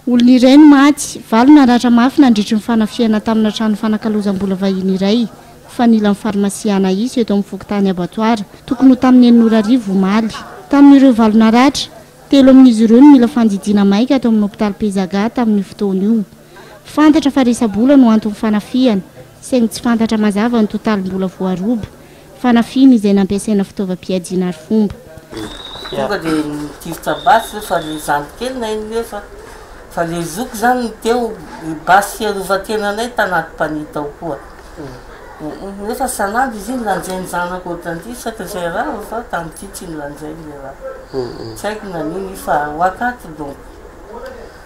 Olona iray no maty, valo naratra mafy nandritry ny fanafihana tamina trano fanakalozam-bola vahiny iray fanilan'ny farmasia Anaïs eto amin'ny fokontany Abbatoir, tokony ho tamin'ny enina ora hariva omaly. Tamin'ireo valo naratra, telo amin'izy ireo no mila fandidiana maika ato amin'ny hopitaly Pezaga tamin'io fotoana io. Fantatra fa resa-bola no anton'ny fanafihana, saingy tsy fantatra mazava ny totalim-bola voaroba. Fanafihana izay nampiasaina fitaovam-piadiana arifomba. Tonga dia nitifitra basy ve fa ilay zandry kely naheno hoe fa fa ilay zoky izany no teo, ny basy fiarovan-tenanay tanaty panier tao koa. Nefa san'ady izy iny lanjain'ny zanako ohatran'ity saika izay rava fa tamin'ity tsy nilanjainy ilay rava. Tsy haiko na nino i fa ho akaty donko.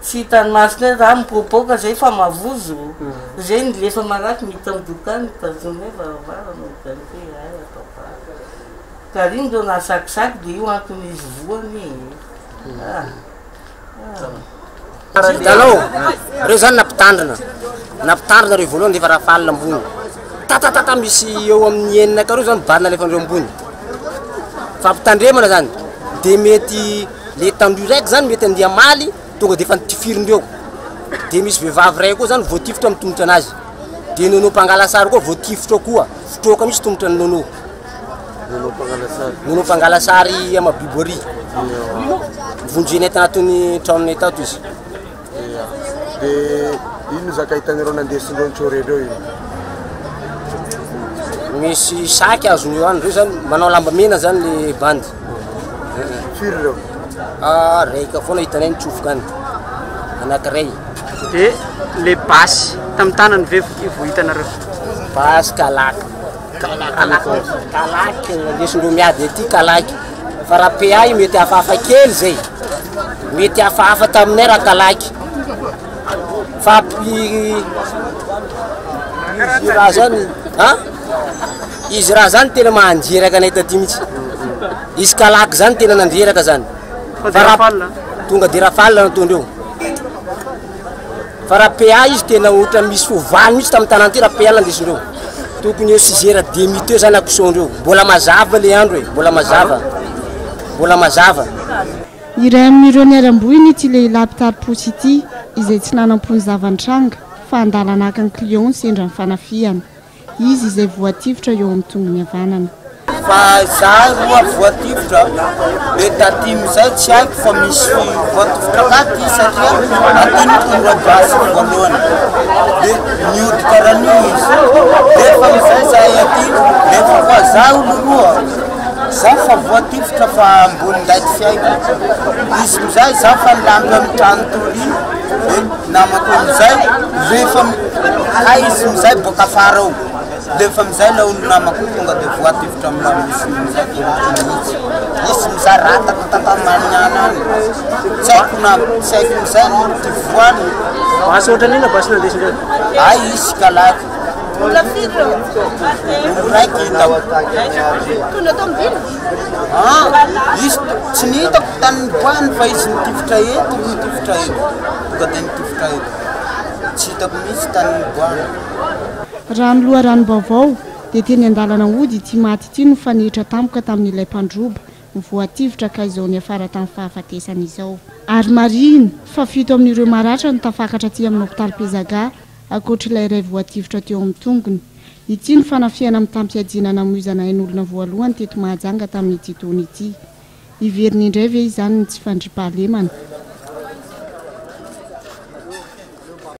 Tsy hitan'ny maso ndray za mipoapoaka zay fa mavozo zay ny lefa marary miditra amin'ny dokany mitazona hoe varavarana ohatran'ny hoe hay atao vary ka r'iny ndreo nahasakisaky de io antony izy voany e ah ah Hitanao, reo zany na mpitandrina, na mpitandrina reo voalohany efa rafale ambony, tatatata misy eo amin'ny enina aka reo zany mibarina alefa ndreo ambony, fampitandremana zany, de mety. le tandroy raiky zany mety andeha hamaly tonga de efa nitifiriny reo de misy vehivavy ray koa zany voatifitra amin'ny tongotra anazy de nono mpangala sary koa voatifitra koa fitroaka misy tongotra ny nono nono mpangala sary ama bibory vonjy enety anatin'ny tranonay tato izy Dia inona no zaka hitanareo nandesin'ireo nitsory ireo iny? Misy sac azony eo any, ireo zany manao lamba mena zany le bandy. Firy ireo? Ah, raika foana hitanay nitsofoka any, anankiray. Dia le basy tamin'ny tanany ve vao hitanareo? Basy kalaky. Kalaky. Kalaky, kalaky, nandesindreo miady aty kalaky. Fa raha PA io mety hafahafa kely zay, mety hafahafa taminay raha talaky, fa izy raha zany an, izy raha zany tena mahandreraka anay taty mihitsy, izy kalaky zany tena nandreraka zany, fa raha tonga de rafale nataondreo. Fa raha PA izy tena otrany misy fo valo mitsy tam tanàna ty raha PA nandesindreo. Tokony eo six heures demi teo zany action ndreo. Mbola mazava le andro e. Mbola mazava. Mbola mazava. Iray amin'ireo niharam-boina ity lehilahy mpitari-posy ity, izay tsy nanam-pony zava-nitranga fa handalana haka ny client sendra ny fanafihana. Izy izay voatifitra eo amin'ny tongony havanana. Fa izaho roa voatifitra, dia taty amin'izay tsy haiko fa misy voatifitra taty satria taty no tonga gasiko voalohany. Dia niody karan'io izy. Nefa amin'izay izahay aty, nefa fa izaho no roa. Izaho fa voatifitra fa ambonin'ilay tsy haiko. Izy amin'izay izaho fa nilampy amin'ny trano torina. Namako amizay rehefa hay izy amizay boaka afara ao dia efa amizay ilay olona namako tonga dia voatifitra amina rosia amizay dia ohatry ny mihitsy izy amizay rataka tantany maniana any tsy haiko na tsy haiko amizay no tivoany Basy ohatran'ny inona basy nandesindreo? Ay izy kalako. Olona firy ireo? Olona iraika hita. Tonga tao amin'ny villa? Ah, izy tsy ny hitako tany nipoahany fa izy nitifitra eto, nitifitra eto. Tonga dia nitifitra eto. Tsy hitako mihitsy tany nipoahany. Raha ny loharanom-baovao, dia teny an-dalana hody ity maty ity no nifanehetra tampoka tamin'ilay mpandroba voatifitra ka izao niafara tamin'ny fahafatesany izao. Ary marihina fa fito amin'ireo maratra no tafakatra aty amin'ny hopitaly Pezaga ankoatr'ilay iray voatifitra teo amin'ny tongony. Ity no fanafihana mitam-piadiana namoizana ain'olona voalohany teto Mahajanga tamin'ity taona ity. Hiverina indray ve izany ny tsy fandriampahalemana?